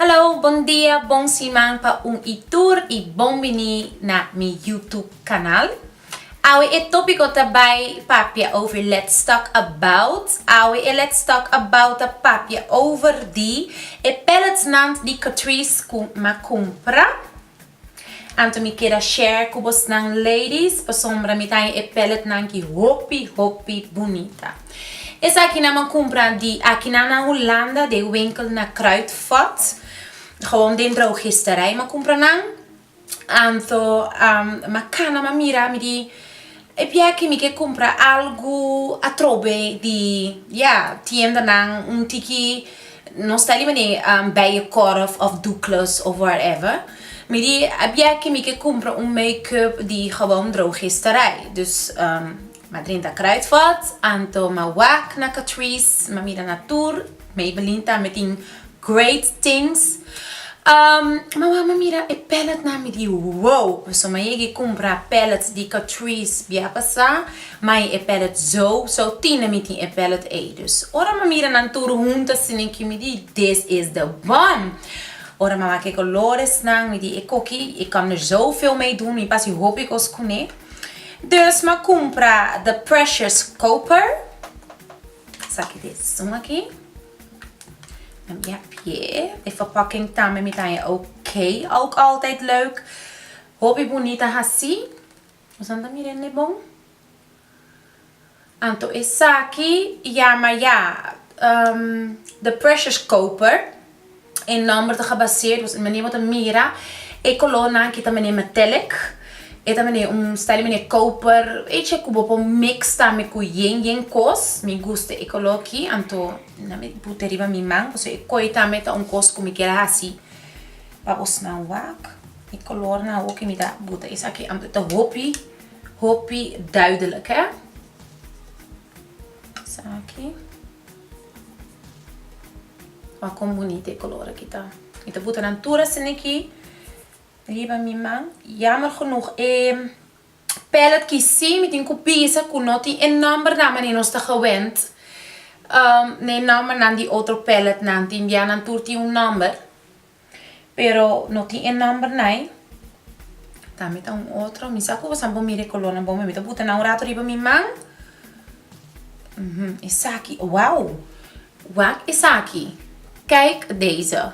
Hallo, bon dia, bon siman pa un y tur y bon bini na mi YouTube canal. Awe e topico ta bay papia over Let's Talk About. Awe e Let's Talk About ta papia over di e pellets nan di Catrice cu m'a cumpra. Anto mi keda share ku bosnan ladies pasobra mi ta e pelletnan ki hopi hopi bunita. Esakinan mi a kumpra di akinan na Hulanda den winkel na Kruidvat, gewoon den drogisterij mi a kumpra nan. Anto mi a kana mi a mira mi di E bia ki mi ke kumpra algu atrobe di ya tiendanan un tiki nos ta liba ne Bijenkorf of Douglas of whatever mi di a bia ki mi ke kumpra un makeup di gabon drogisterai dus ma drinta Kruidvat anto ma wak na Catrice ma mira na tur Maybelline tambe tin great things. Umm ma wou ma mira e palette nan mi di wou, paso ma yegi cumpra palettes di Catrice bia pasa, mai e palette zo, so tin na mi tin e palette ey. Dus ora ma mira nan tur hunto asina aki mi di this is the one. Ora ma wak e colores nan mi di e coki e come er zo feo mee doen, mi pasa hopi cos cune. Dus ma cumpra the precious copper. Saki di esun aki. Nan bin a pie. E verpakking tambe mi ta haya ok. Ook altijd leuk. Hopi bunita hasi. Nosnan ta mira ende bon. Anto esaki yama ya The Precious Koper. E nomber ta gebaseerd, dus menier bo ta mira e color nan ki ta menier metallic, e ta menier un stijl menier koper, echi ku bo por mix tambe ku yen yen kos, mi gusta e color ki anto nan mi puta riba mi man, pasobra e koi tambe ta un kos ku mi kier a hasi pa bo snan wak, e color nan awo ke mi ta puta esaki anto ta hopi hopi duidelijk he, esaki. Wak kon bunita e color aki ta. Mi ta buta nan tur asina aki riba mi man. Jammer genoeg e pallet ki si mi tin cu bisa cu no tin e numbernan wanneer nos ta gewend na e numbernan di otro palletnan tin bia nan tur tin un number. Pero no tin e number nai. Ta mi ta un otro. Mi sa cu bosan por mira e colornan bon. Mi ta buta nan un rato riba mi man. Uhum, esaki. Wow! Wak esaki. Kijk deze.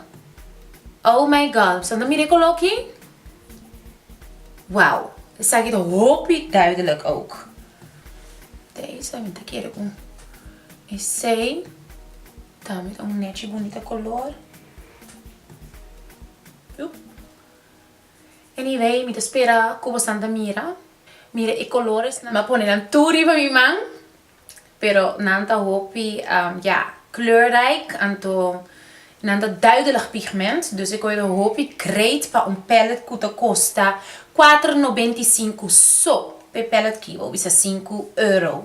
Oh my god. Bosan ta mira e color aki? Wow! Esaki ta hopi duidelijk ook. Deze, mi ta kere un esei. Ta mi ta un nechi bunita color. Anyway mi ta spera cu bosan ta mira. Mira e colores nan. Mi a pone nan tur riba mi man pero nan ta hopi ya kleurrijk anto nan ta duidelijk pigment dus e coge ta hopi great pa un pallet cu ta costa cuater noventa y cinco so pe pallet kibo bisa sinku euro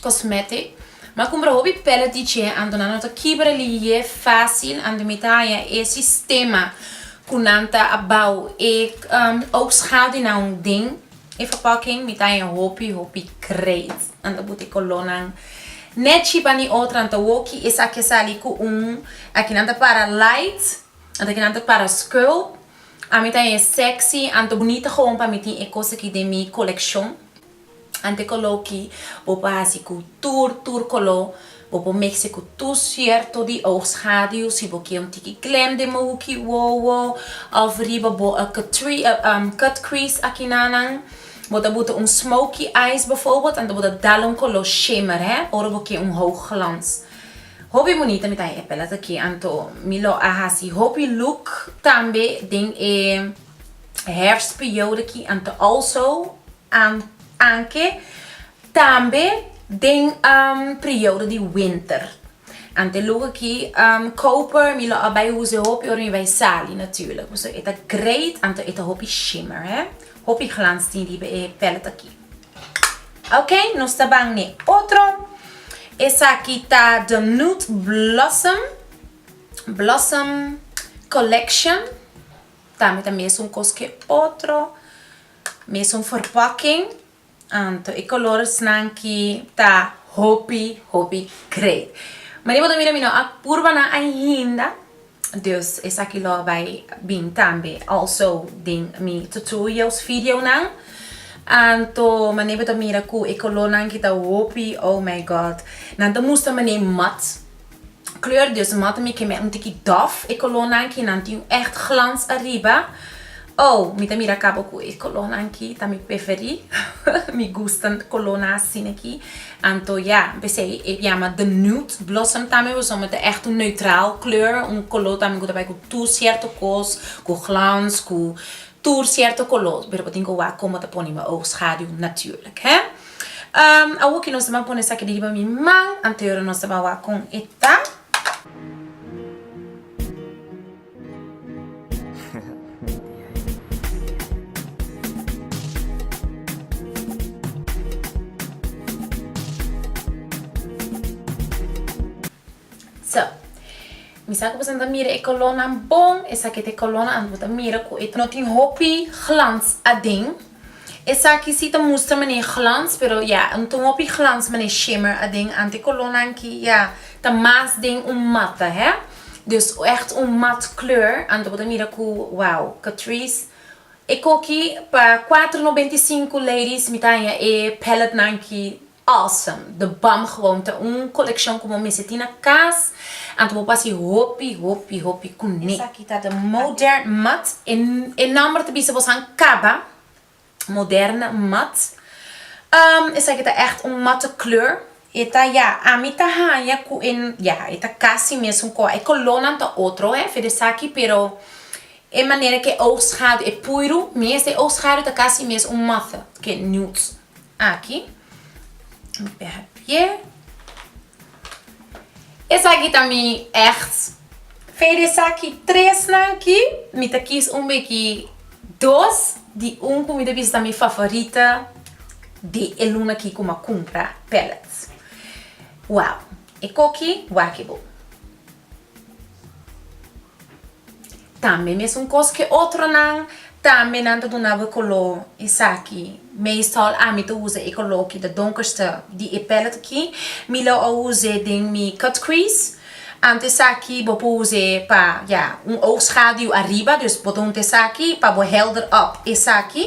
Cosmetic, ma cumbra hopi pellet di che anto nan no ta kibra liye facil anto mi ta haya e sistema cu nan ta a bao e oogschadenan den e verpakking mi ta haya hopi hopi great anto bo te color nan net chi pa ni otro anto woki esaki a sali cu un aki nan ta para light anto aki nan ta para scuel ami ta haya sexy anto bonita gewoon pa mi tin e cos aki den mi coleccion. Ante coló ki bo por hasi cu tur, tur coló, bo por mece cu tur cierto di oogschaduw, si bo kier un tiki klem den bo hoeki wowo of riba bo a cut crease akinanan. Bo ta buta un smoky eyes bijvoorbeeld, anto bo ta dal un coló shimmer he, ora bo kier un hoog glans. Hopi bunita mi ta haya e palette aki, anto mi lo a hasi hopi look tambe den e hair spioor aki, anto also. Anke tambe den prioudo di winter. Ante loke aki koper mi lo a bai usa hopi ora mi bai sali natuurlijk. Pasobra e ta great anto e ta hopi shimmer he. Hopi glans tin riba e pellet aki. Ok nos ta ban n'e otro. Esaki ta the nude blossom blossom collection. Tambe ta mes un kos ke otro. Mesun for pòking anto e koloresnan ki ta hopi hopi great. Mari bo ta mira mi no a purba nan ainda, dus esaki lo bai bin tambe also den mi tutorials videonan. Anto mane bo ta mira ku e kolornan ki ta hopi oh my god nan ta mustra mane mat kleur di su mata mi kem'e un tiki dof e kolornan ki nan tin un echt glans ariba oh mi ta mira kaba ku e kolornan ki ta mi peferi mi gusta kolornan asina ki anto ya pesei e biama the nude blossom tambe pasobra mi ta echt un neutral kleur un kolor tambe ku ta bai ku tur sierto kos ku glans ku tur sierto kolor pero bo tin ku wak kon bo ta pone bo oogschaduw natuurlik he. Awor ki nos ta ban pone esaki di riba mi man, anteora nos ta ban wak con e ta. So, mi sa cu boso no ta mira e colornan bon, esaki ta e colornan anto bo ta mira cu e no tin hopi glans aden. Esaki si ta mustra manera glans pero ya un ta un hopi glans manera shimmer aden ante colornan aki ya ta mas den un matte hè dus echt un matte kleur anto bo ta mira ku wow Catrice e koki pa cuatro noventa y cinco ladies mi ta haña e palette nan aki Awesome! The Bump Gewoon ta un coleccion cu bo mester tin na cas anto bo pasa e hopi, hopi, hopi cu ne. Esaki ta The Modern Mud. E nomber ta bisa bo san caba Moderne Mud. Esaki ta echt un matte kleur. E ta ya, ami ta hanja cu e, ya, e ta casi mesun cor. E colornan ta otro he, afe desaki, pero e manera cu e oog schaduw, e puiru mes den e oog schaduw ta casi mes un matte cu e nude. Aki mi pega pie. Esaki ta mi ex. Fe di esaki tres nan aki mi ta kies un beki dos di un ku mi ta bisa ta mi favorita di e luna aki ku mi a kumpra pellets. Wow e koki wak e bo. Tambe mesun kos ke otronan, tambe nan ta duna bo e koló esaki. Meestal ami ta usa e koló ki ta donkerster di e pèllet aki. Mi lo a us'é den mi cut crease. Ante esaki bo por us'é pa, ya, un oogschaduw ariba. Dus bo ta hunta esaki pa bo helder up esaki.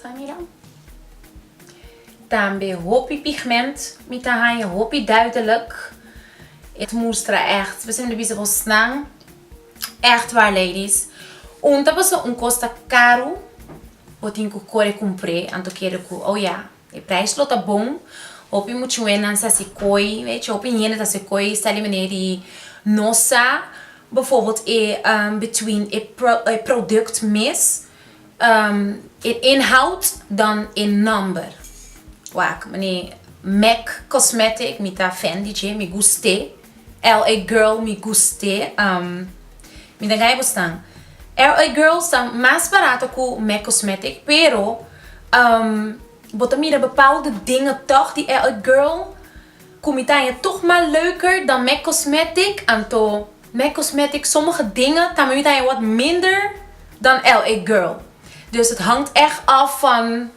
Sa mira. Tambe hopi pigment. Mi ta haña hopi duidelijk. E mustra ècht. Besey mi ta bisa bosnan ècht waar ladies. Un ta pasá un kos ta karu. Bo tin ku kore kumpr'é. Anto kere ku oja. E prijs lo ta bon, hopi muchuenan sa si koi, echi hopi hende ta si koi sa di maneer di no sa befobeld e between e product mes, e inhoud dan e number. Wak, meneer Mac Cosmetic mi ta fendi dje, mi gust'é. LA girl mi gust'e umm mi ta gaya busnan LA girls ta mas barato cu Mac cosmetic pero umm bo ta mira bepaalde dingen toch di LA girl cu mi ta haya toch mas leuker dan Mac cosmetic anto Mac cosmetic sommige dingen tambe mi ta haya wat minder dan LA girl dus het hangt echt af van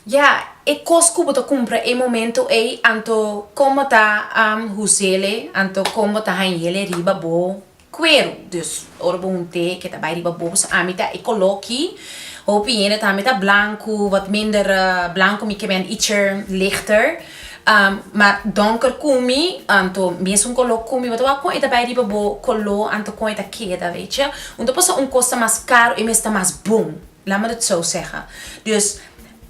Ya, e kos ku bo ta kumpra e momentu ei, anto kon bo ta husele, anto kon bo ta hañele riba bo kueru. Dus, ora bo hunté ke ta bai riba bo, bo sa ami ta e koló ki hopi hende ta ami ta blanku, wat minder blanku, mi ke ben ietsher lichter, mar dònker ku mi, anto mesun koló ku mi, bo ta wak kon e ta bai riba bo koló, anto kon e ta keda, weetje. Un ta pasa un kos ta mas karu, e mes ta mas bon. Laat me dat zo zeggen. Dus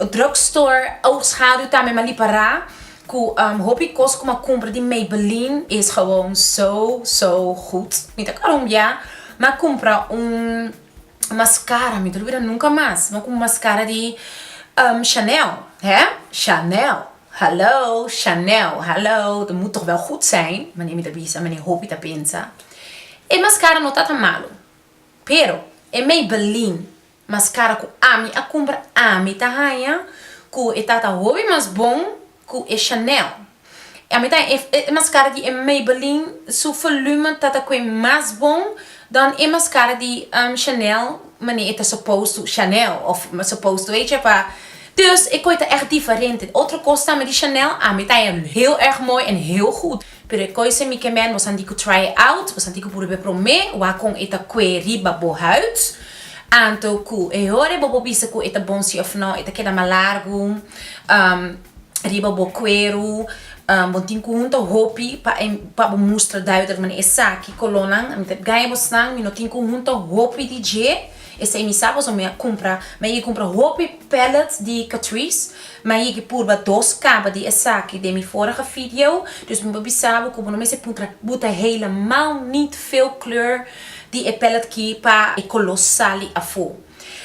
drug store oudschaduw tambe ma lipa ra cu hopi cos cu ma cumpra di Maybelline is gewoon zo zo goed. Mi ta Colombia ma cumpra un mascara mi ta olvida nunca mas ma cumpra un mascara di Chanel he Chanel hallo Chanel hallo ta moet toch wel goed zijn meneer mi ta bisa meneer hopi ta pensa e mascara no ta ta malo Pero, e Maybelline mas kara ku ami a kumpra ami ta haña ku e tata hopi mas bon ku e Chanel. Ami ta haña e mas kara di e Maybelline su volume ta ta kue mas bon dan e mas kara di Chanel manera e ta supposed to Chanel of supposed to hecha pa. Dus e kue ta ègt diferente. Otro kos tambe di Chanel ami ta haña heel erg mooi en heel gud. Pero e koise mi ke men bo santi ku try out, bo santi ku purub'é promé wak kon e ta kue riba bo huid. Anto ku e hore bo por bisa ku e ta bon si òf nò, e ta keda mas largu riba bo kueru. Bo tin ku hunta hopi pa e pa bo mustra duidelijk manera esaki kolonnan mi ta gaña bo snan, mi no tin ku hunta hopi di dje. Esei mi sa pasobra mi a kumpra, mi a yega kumpra hopi pellets di Catrice, mi a yega purba dos kaba di esaki den mi forige video, dus mi por bisa bo ku bo no mester puntra bo ta helemaal nit veel kleur di e pellet ki pa e koló sali afó.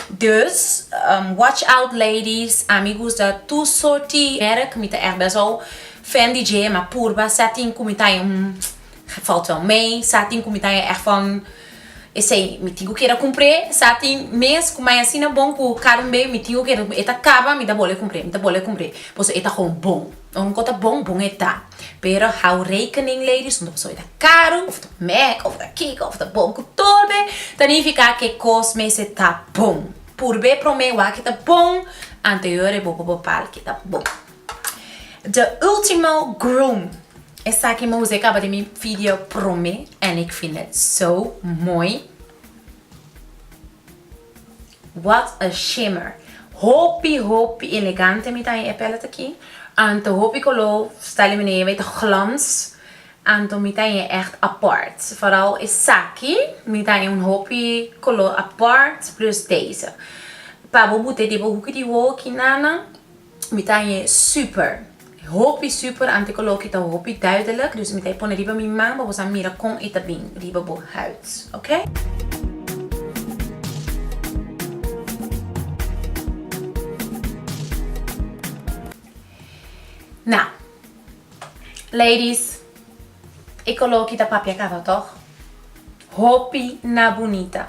Dus, watch out ladies, a mi gusta tur sorti merk, mi ta èg bes hou fan di dje, mi a purba, sa tin ku mi ta, falta mei, sa tin ku mi ta èg van. Esei mi tin cu keda cumpr'e, sa tin mes cu mai asina bon cu cada un bey mi tin cu keda e ta caba mi ta bol'e cumpr'e, mi ta bol'e cumpr'e pasobra e ta hoon bon. Ora un cos ta bon, bon e ta, pero hou rekening ladies hoon ta pasobra e ta caro of ta mek of ta kiko of ta bon cu tolbe ta nifica cu e cos mes e ta bon. Purbe prome wak e ta bon, anterior e bo por bepal cu e ta bon. De ultimo groom. Esaki mouse e kaba di mi video prome en ik vind het zo mooi. What a shimmer. Hopi hopi elegante mi ta in e palette aki. Anto hopi kolo sta li benee bay ta glans. Anto mi ta in echt apart. Vooral esaki mi ta in un hopi kolo apart plus deze. Pa bo bute di bo hoeki di wou aki nana Mi ta hanje super. Hopi super antes cu loki ta hopi duidelijk. Dus mi ta e pone riba mi man pa bosa mira con e ta bin riba bo huid. Ok. Now. Ladies. E cu loki ta papia caba toch? Hopi na bunita.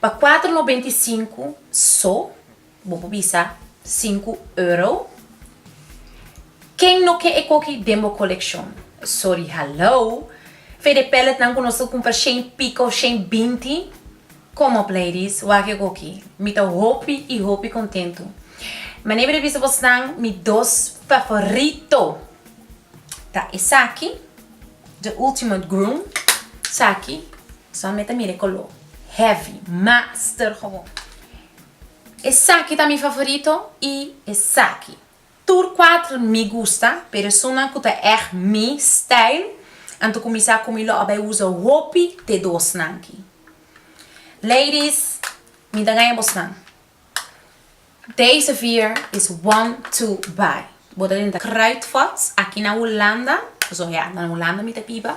Pa kuater nobenta i sinku so bo por bisa sinku euro. Ken no ke e koki den bo kolekshon? Sori hallo! Fe de pelletnan ku nos ta kumpra shen piko, shen binti? Kom op ladies, wak e koki. Mi ta hopi i hopi kontentu. Manera mi ta bisa bosnan, mi dos favorito ta esaki. The ultimate groom saki sa mi ta mira e color heavy master gewoon esaki ta mi favorito y esaki tur cuatro mi gusta pero esunnan cu ta echt mi style anto cu mi sa cu mi lo a bay usa hopi te dos nan aki ladies mi ta gaya bosnan. Deze vier is one two baai. Bo ta denta Kruidvats aki na Hulanda, so ya na Hulanda mi ta biba.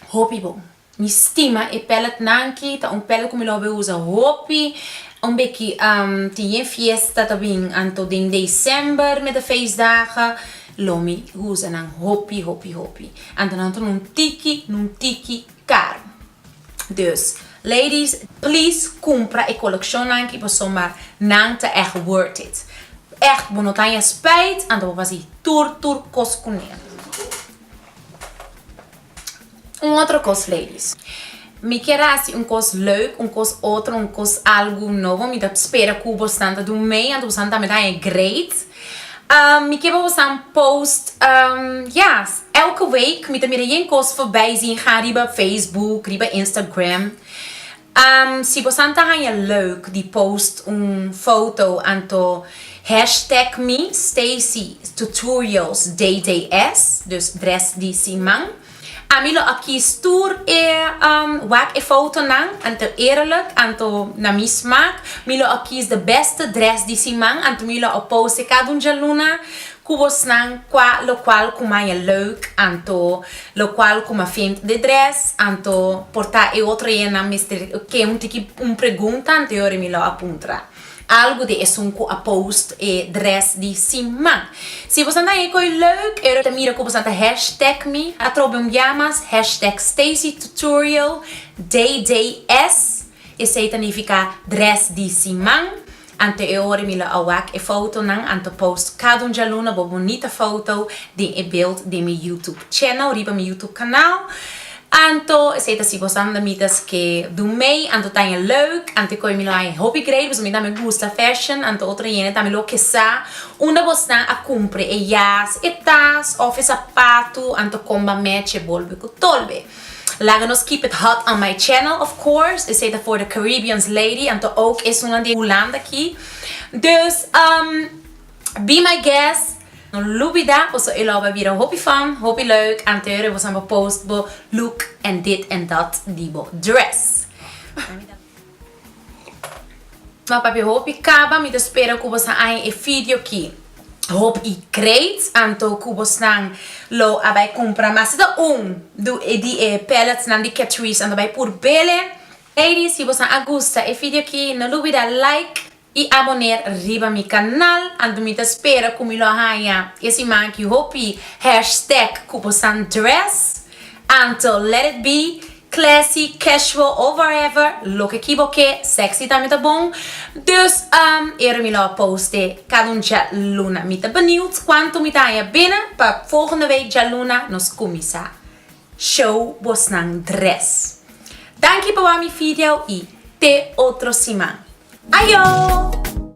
Hopi bon. Mi stima e pellet nan ki, ta un pellet ku mi lo hopi usa hopi. Un beki ehm tin e fiesta ta bin anto den december met de feestdagen, lo mi usa nan hopi hopi hopi. Anto nan ta nun tiki nun tiki karo. Dus ladies please cumpra e coleccionnan ki pasobra ma nan ta echt worth it. Echt bo no ta haña spijt anto bo fasi tur tur cos cu nel. Un otro cos ladies mi kier a haci un cos leuk un cos otro un cos algo nobo mi ta spera cu bosnan ta dunmey anto bosnan tambe ta haña great. Mi kiba bo san post yes elke week mi ta mira yen cos forbij zi ha riba facebook riba instagram si bo san ta haya leuk di post un foto anto hashtag mi stacy tutorials dds dus dress di siman Ami lo a kies tur e um wak e fotonan, anto eerlijk, anto na mi smaak. Mi lo a kies de beste dress di siman, anto mi lo a pose cada un djaluna cu bosnan cua locual cu maya leuk, anto locual cu ma fint de dress, anto por ta e otro enan mester ke un tiki un pregunta anto e ora mi lo a puntra. Algu di esun cu a post e dress di sin man. Si bo sa na e coi leuk e ta mira cu bo sa ta hashtag mi atrobe un bia mas hashtag Stacy Tutorial DDS esey ta nifica dress di sin man. Anto e ora mi lo a wak e fotonan anto post cada un djaluna bo bonita foto den e beeld den mi YouTube channel riba mi YouTube canal. Anto, esei ta si bo Sandra mi ta ske do mei, anto taña leuk, anto e koe mi lo haña hopi great pasobra mi tambe gusta fashion, anto otro hende tambe lo kesa, unda bosnan a kumpre e jas, e tas of e sapatu, anto kon ba match e bolbe ku tolbe. Laga nos keep it hot on my channel of course, esei ta for the Caribbeans lady, anto ook esunnan di Hulanda aki, dus umm. Be my guest! No lubida boso e lo bai bira hopi fun, hopi leuk anteure boso bai post bo look en dit en dat di bo dress. M'a papia hopi kaba mi ta spera ku boso a haña e fideo ki hopi great anto ku bosnan lo a bai kumpra mas si ta un di e pallets nan di Catrice anto bai pur bel'e. Ladies si boso a gusta e fideo ki no lubida like y aboner riba mi canal anto mi ta spera cu mi lo haña e siman aki hopi hashtag cu bo san dress anto let it be classy casual o whatever loke ki bo ke sexy tambe ta bon dus umm ero mi lo a post e cada un djaluna mi ta benieuwd cuanto mi ta haña binnen pa volgende week djaluna nos cuminsa Show bosnan dres. Danki pa wami video y te otro siman. Ayo!